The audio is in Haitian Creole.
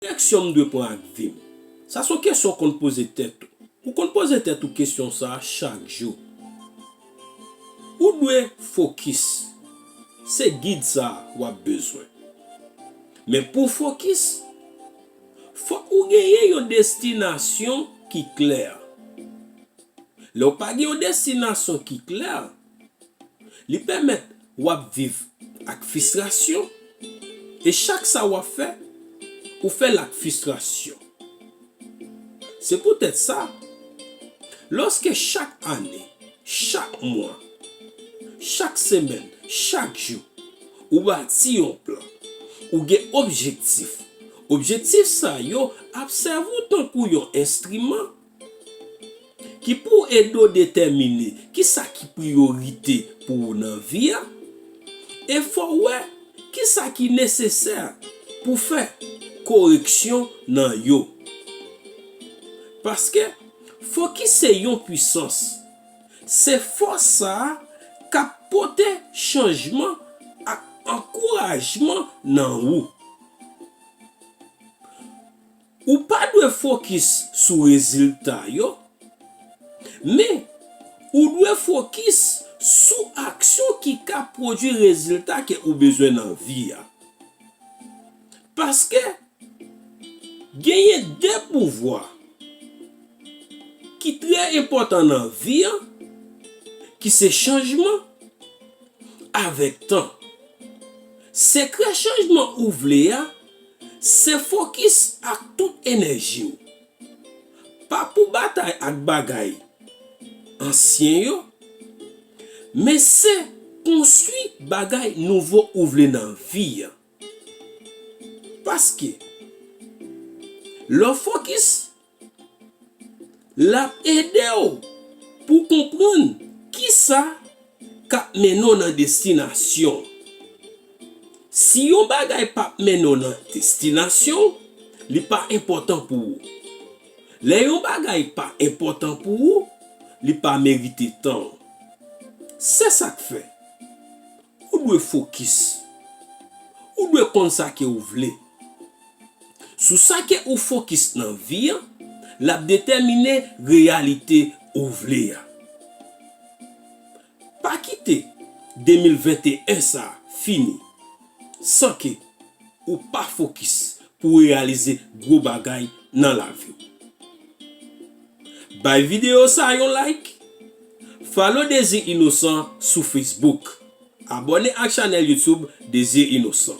direksyon m dwe pran ak vi m? Sa s on kesyon w konn poze tèt ou. Ou konn poze tèt ou kesyon sa a chak jou. Ou dwe fokis. Se gid sa a w ap bezwen. Men pou w fokis, fòk ou genyen yon destinasyon ki klè. Lè w pa gen yon destinasyon ki klè, Li pèmèt w ap viv ak fistrasyon e chak sa w ap fè, ou fè l ak fistrasyon. Se poutèt sa, lòske chak ane, chak mwa, chak semèn, chak jou, ou bati yon plan, ou gen objektif, objektif sa yo ap sèvi w tankou yon enstriman Ki pou ede w detèmine ki sa ki priyorite pou ou nan vi a e fè w wè ki sa ki nesesè pou w fè koreksyon nan yo. Paske fokis se yon pwisans. Se fòs sa a k ap pote chanjman ak ankourajman nan ou. Ou pa dwe fokis sou rezilta yo, men, ou dwe fokis sou aksyon ki ka pwodui rezilta ke ou bezwen nan vi a. Paske, genyen de pouvwa ki trè enpòtan nan vi a, ki se chanjman avèk tan. Sekrè chanjman ou vle a. Se fokis ak tout enèji w. Pa pou batay ak bagay ansyen yo, men se konstwi bagay nouvo ou vle nan vi an. Paske, lè w fokis L ap ede w pou w konprann ki sa k ap mennen w nan destinasyon w. Si yon bagay pa p mennen w nan destinasyon w, li pa enpòtan pou ou. Lè yon bagay pa enpòtan pou ou, li pa merite tan w. Se sa k fè, ou dwe fokis. Ou dwe konn sa ke w vle. Sou sa ke ou fokis nan vi an, l ap detèmine reyalite ou vle a. Pa kite 2021 sa fini san ke ou pa fokis pou reyalize gwo bagay nan lavi w. Bay videyo sa yon like, follow Désir Innocent sou Facebook, abone ak chanèl YouTube Désir Innocent.